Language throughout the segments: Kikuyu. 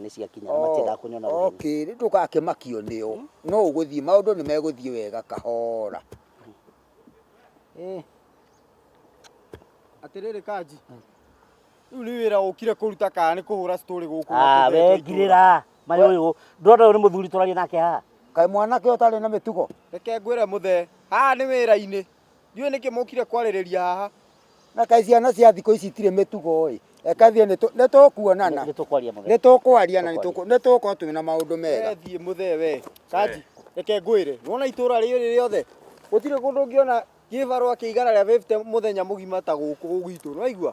nĩ ciakinya na matiendaga kũnyona ũtheri. okay rĩu ndũgakĩmakio nĩo no ũgũthiĩ maũndũ nĩ megũthiĩ wega kahora Eh, atĩrĩrĩ kanji rĩu nĩ wĩra ũkire kũruta kana nĩ kũhũra citorĩ gũkũ ah, we ngirĩra marĩ ũyũ ndona ũyũ nĩ mũthuri tũraria nake haha kaĩ mwanake ũtarĩ na mĩtugo reke ngwĩre mũthee haha nĩ wĩra-inĩ ndiũĩ nĩkĩ mũkire kwarĩrĩria haha na kaĩ ciana cia thikũ ici itirĩ mĩtugo ĩ eka thiĩ nĩtũ- nĩtũkuonana nĩtũkwaria mũthee nĩtũkwaria na nĩtũkũ- nĩtũgũkorwo twĩ na maũndũ mega we thiĩ mũthee we kanji reke ngwĩre wona itũra rĩrĩ rĩothe gũtirĩ kũndũ ũngĩona kĩbarũa kĩigana rĩa 50 mũthenya mũgima ta gũkũ gwitũ nĩwaigua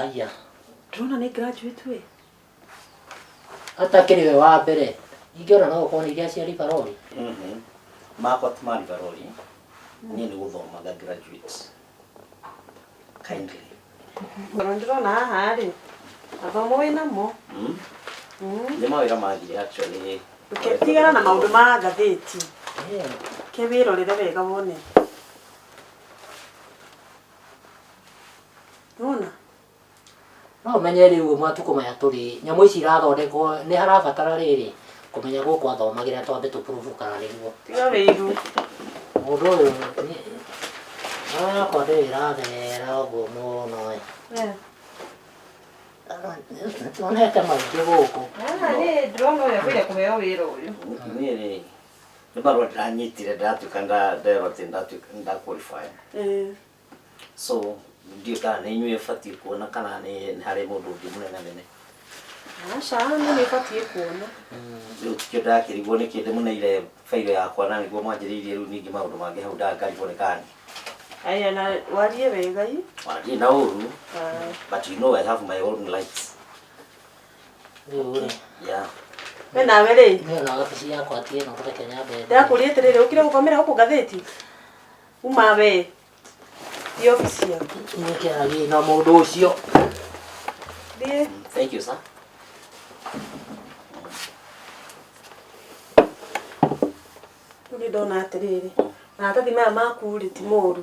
Aya. Ndĩrona nĩ graduate we. Atakĩrĩ we wa mbere. Ingĩona no ũkorwo nĩ iria cia Libarori. Mhm. Makwa ti ma Libarori. Niĩ nĩ gũthomaga graduate. Kindly. Ngoro ndĩrona haha rĩ. Athomo wĩ namo. Mm. Mm. Nĩ mawĩra mathire actually. Ndũke- Tigana na maũndũ ma ngathĩti. Ke wĩrorere wega wone. nona no ũmenye rĩu ũguo matukũ maya tũrĩ nyamũ ici irathondekwo nĩ harabatara rĩrĩ kũmenya gũkũ athomagĩra twambe tũpurubu kana nĩguo tiga wĩiru mũndũ ũyũ nĩ- ngoro yakwa ndĩrĩ ĩrathera ũguo mũno ĩ. nĩtuonete maingĩ gũkũ ndĩrona ũyũ agĩrĩire kũheo wĩra ũyũ niĩ rĩ nĩ marũa ndĩranyitire ndatuĩka nda- nderwo atĩ ndatuĩka- ndaqualify Eh, so ndiũ kana nĩ inyuĩ batiĩ kuona kana nĩ nĩ harĩ mũndũ ũngĩ mũnene nene aca nĩ nĩ batiĩ kuona rĩu tikĩo ndakĩrigwo nĩ kĩndĩ mũneire bairo yakwa na nĩguo mwanjĩrĩirie rĩu ningĩ maũndũ mangĩ hau ndangarigwo nĩ kani aya na warie wega i warie na ũru Ah. but you know I have my own lights we nawe rĩ ndakũria atĩrĩrĩ ũkire gũkomera gũkũ ngathĩti uma we thi obici yaku na mũndũ ũcio thiĩ Thank you, sir. rĩu nĩ ndona atĩrĩrĩ maratathi maya maku rĩ ti moru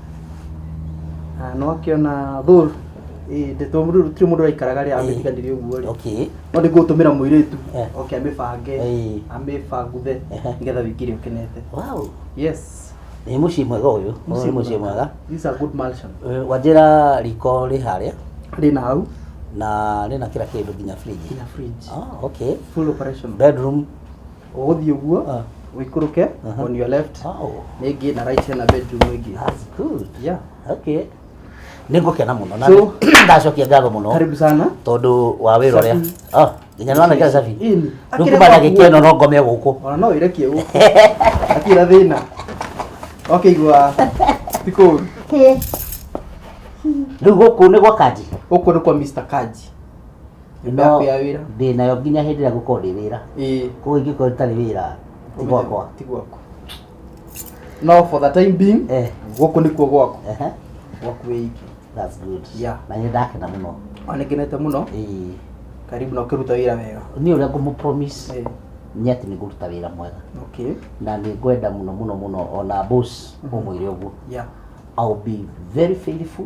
Ah, no akĩona thũr ĩ ndeto mũndũ tiri mũndũ araikaraga rĩ amĩtiganĩria ũguo rĩ okay no nĩ ngũtũmĩra mũirĩtu Eh. oke amĩbange Ĩĩ. amĩbanguthe Ehe. nĩgetha wĩingĩre ũkenete wow yes nĩ mũciĩ mwega ũyũ Ũyũ nĩ mũciĩ mwega This is a good mansion Eh, wanjĩra riko rĩ harĩa rĩna hau na rĩna kĩra kĩndũ nginya fridge nginya fridge oh, okay full operation bedroom ũgũthiĩ ũguo Ah. ũikũrũke Aha. on your left Oh, nĩ ĩngĩ na right hena bedroom ĩngĩ that's good. yeah Okay. Nĩ ngũkena mũno na So- nĩ- ndacokia ngatho mũno karibu sana tondũ wa wĩra ũrĩa. Safi. Ah, nginya nĩwona kĩa Safi. Ĩni. Rĩu Akĩrĩ kuma gwaku ndagĩka ĩno no ngome gũkũ. ona no ĩrekie gũkũ akira thĩna okĩigua tikũru Rĩu gũkũ nĩ gwa kanji. gũkũ nĩ kwa Mr. Kaji No, Ndabe ya wĩra ndĩ nayo nginya hĩndĩ ĩrĩa ngũkorwo ndĩ wĩra ĩĩ koguo ingĩkorwo itarĩ wĩra ti gwakwa ti gwakwa no for the time being Eh. gũkũ nĩkuo gwakwa Ehe, gwaku wĩ iki that's good Yeah. na nĩ ndakena mũno onĩkenete mũno Ĩĩ. karibu na ũkĩruta wĩra wega niĩ ũrĩa ngũmũpromise Ĩĩ. nĩ atĩ nĩ ngũruta wĩra mwega okay na nĩ ngwenda mũno mũno mũno ona boss ũmwĩre ũguo yeah I'll be very faithful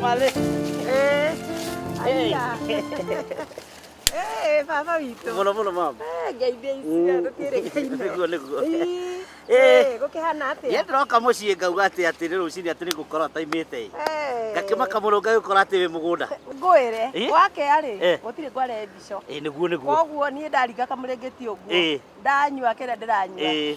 Male. Eh. Aia. Eh, baba witũ. Mũno mũno mama. Eh, ngeithia icio tũkĩrĩ ngeithia. Nĩguo nĩguo. Eh, gũkĩhana atĩa? Niĩ ndĩroka mũciĩ ngauga atĩ atĩ nĩ rũcinĩ atĩ nĩngũkorwo ataimĩte ĩ. Eh. Ngakĩmaka mũno ngagĩkora atĩ wĩ mũgũnda. Ngwĩre, Eh? wakerĩ Eh. gũtirĩ ngware mbico. Ĩ nĩguo nĩguo. Koguo niĩ ndariga kamũrĩngĩti ũguo. Eh. Ndanyua kĩrĩa ndĩranyua. Eh.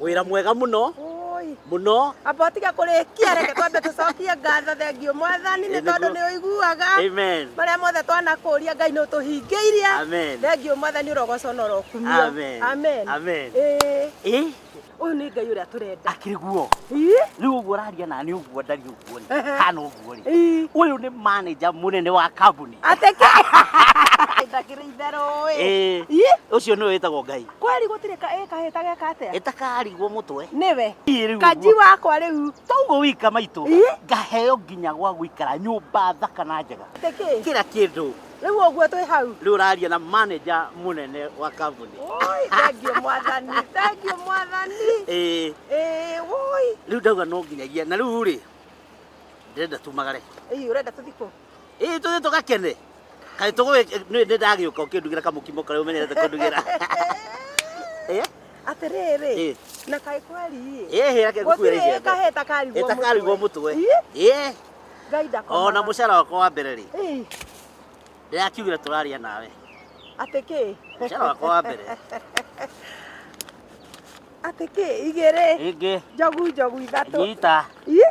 wira mwega muno muno amba tiga kurikia reke twambe tucokie ngatho thengio mwathani ni tondu ni uiguaga maria mothe twanakuria ngai ni utuhingiirie thengio mwathani urogoco na urokumio amen amen eh uyu ni ngai uria turenda akiri guo riu uguo raria na ni uguo ndari uguo ni kana uguo ri uyu ni manager munene wa kambuni ateke ndakiri itherũ ĩ ucio nĩ wĩtagwo ngai kweli gutire ka ä kahä ta geka atä ĩtakarigwo mũtwe nĩwe Niĩ rĩu kanji ũguo. wakwa rä u toguo wika maitũ Ĩ? ngaheo nginya gwa gũikara nyũmba thaka na njega tä kä kĩra kĩndũ rä u å guo twä hau rĩu ũraria na manager mũnene wa kambuni Oi, thengiå mwathani thengiå mwathani Ĩĩ, ä woi rĩu ndauga no nginyagia na rĩu rĩ ndĩrenda tumagare ä å renda tå thikå ĩ tũthiĩ tũgakene kaĩ tũgũgĩ nĩ nĩ ndagĩũka ũkĩndugĩra kamũkimo karĩa ũmenyerete kũndugĩra Eh, atĩrĩrĩ Eh. na kaĩ kweri ĩ hĩra kĩngũkuĩra gũtirĩ icembe kaheta karigwo ĩta karigwo mũtwe Ih, ĩ ngai ndakomaga. ona mũcara wakwa wa mbere rĩ Ih, ndĩrakiugire tũraria nawe atĩ kĩ mũcara wakwa wa mbere atĩ kĩ igĩrĩ ĩngĩ njogu njogu ithatũ nyita Ih,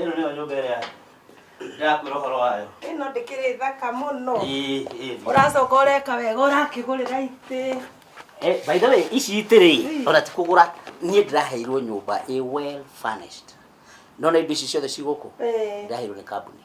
ĩno nĩyo nyũmba ĩrĩa ndĩrakwĩra ũhoro wayo ĩno ndĩkĩrĩ thaka mũno Ĩĩ, ĩĩ. ũracoka ũreka wega ũrakĩgũrĩra itĩ Eh, by the way ici itĩrĩ ona ti kũgũra niĩ ndĩraheirwo nyũmba ĩ well furnished nona indo ici ciothe cigũkũ Eh. ndĩraheirwo nĩ kambuni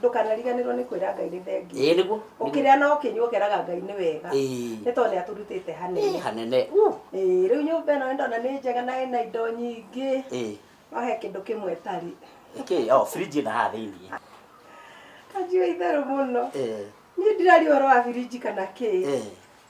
ndũkanariganĩrwo nĩ kwĩra ngai nĩ thengiũ ĩĩ nĩguo ũkĩrĩa na ũkĩnyua ũkeraga ngai nĩ wega Ĩĩ. nĩ tondũ nĩ atũrutĩte Ĩĩ, hanene hanene Uu. Ĩĩ, rĩu nyũmba ĩno nĩ ndona nĩ njega na ĩna indo nyingĩ Ĩĩ. no he kĩndũ kĩmwe ĩtarĩ Ĩkĩ, o fridge ĩna haha thĩinĩ kanjio itherũ mũno Ĩĩ. niĩ ndirari ũhoro wa birinji kana kĩ Ĩĩ.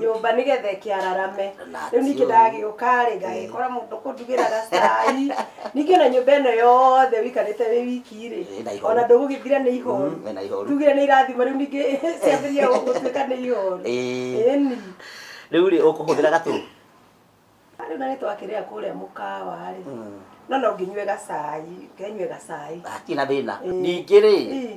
nyũmba nĩgetha ĩkĩararame rĩu ningĩ ndagĩũka rĩ ngagĩkora mũndũ kũndugĩra gacai ningĩ ona nyũmba ĩno yothe wĩikarĩte wĩ wiki rĩ Ĩ, na ihoru. ona ndũgũgĩthira nĩ ihoru Mm, ĩ, na ihoru. tugire nĩ irathimo rĩu ningĩ ciambĩrĩria gũtuĩka nĩ ihoru Ĩ. ĩni rĩu rĩ ũkũhũthĩra gatũ rĩu na nĩ twakĩrĩa kũrĩa mũkawa rĩ no no nginyue gacai ngenyue gacai hatirĩ na thĩna Ĩ. ningĩ rĩ Ĩ.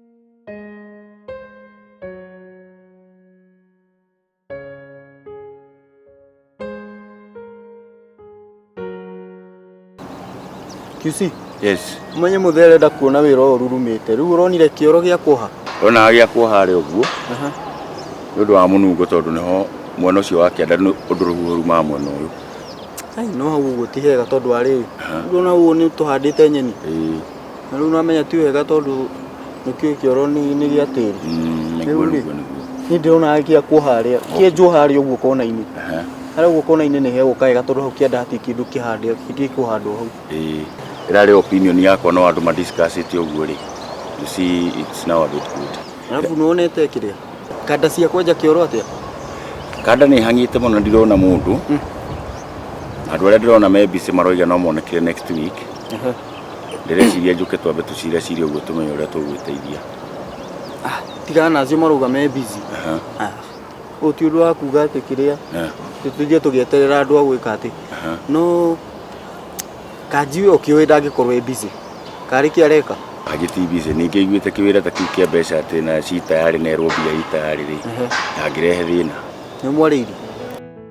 QC Yes. umenye mũthee arenda kuona wĩra ũyũ rurumĩte rĩu ũronire kĩoro gĩa kuoha Ronaga gĩa kuoha harĩ ũguo nĩ ũndũ wa mũnungo tondũ nĩho mwena ũcio wa kĩanda nĩ ũndũ rũhuho rumaga mwena ũyũ. Ai, no hau ũguo ti hega tondũ wa rĩrĩ Aha. rĩu ona ũguo nĩ tũhandĩte nyeni Ĩĩ. na rĩu nĩwamenya ti wega tondũ nĩkĩo kĩoro nĩ nĩ gĩa tĩri Mm, Rĩu nĩguo rĩ, nĩguo nĩguo niĩ ndĩrona gĩa kuo harĩa kĩenjwo harĩa ũguo kona-inĩ Aha, harĩa ũguo kona-inĩ nĩ hegũka wega tondũ hau kĩanda hatirĩ kĩndũ kĩhande gĩtirĩ kũhandwo hau ĩĩ. ĩra rĩ opinion yakwa no andũ madiscussĩte ũguo rĩ you see it's now a bit good arabu nĩwonete kĩrĩa kanda cia kwenja kĩoro atĩa kanda nĩ hang'ĩte mũno ndirona mũndũ andũ arĩa ndĩrona me busy maroiga no monekire next week Aha. ndĩreciria njũke twambe tũcire cire ũguo tũmenye ũrĩa tũgwĩteithia Ah, tigana nacio marũga me busy Aha, Ah, ũyũ ti ũndũ wa kuga atĩ kĩrĩa eh, tũthiĩ tũgĩeterera andũ a gwĩka atĩ aha. no kanji ũyũ kĩũĩ ndangĩkorwo e busy karĩ kĩ areka kanjĩ ti busy ningĩ iguĩte kĩwĩra ta kĩu kĩa mbeca atĩ na ci tayarĩ nerwo mbia i tayarĩ rĩ Ehe. ndangĩrehe thĩna nĩ mwarĩirie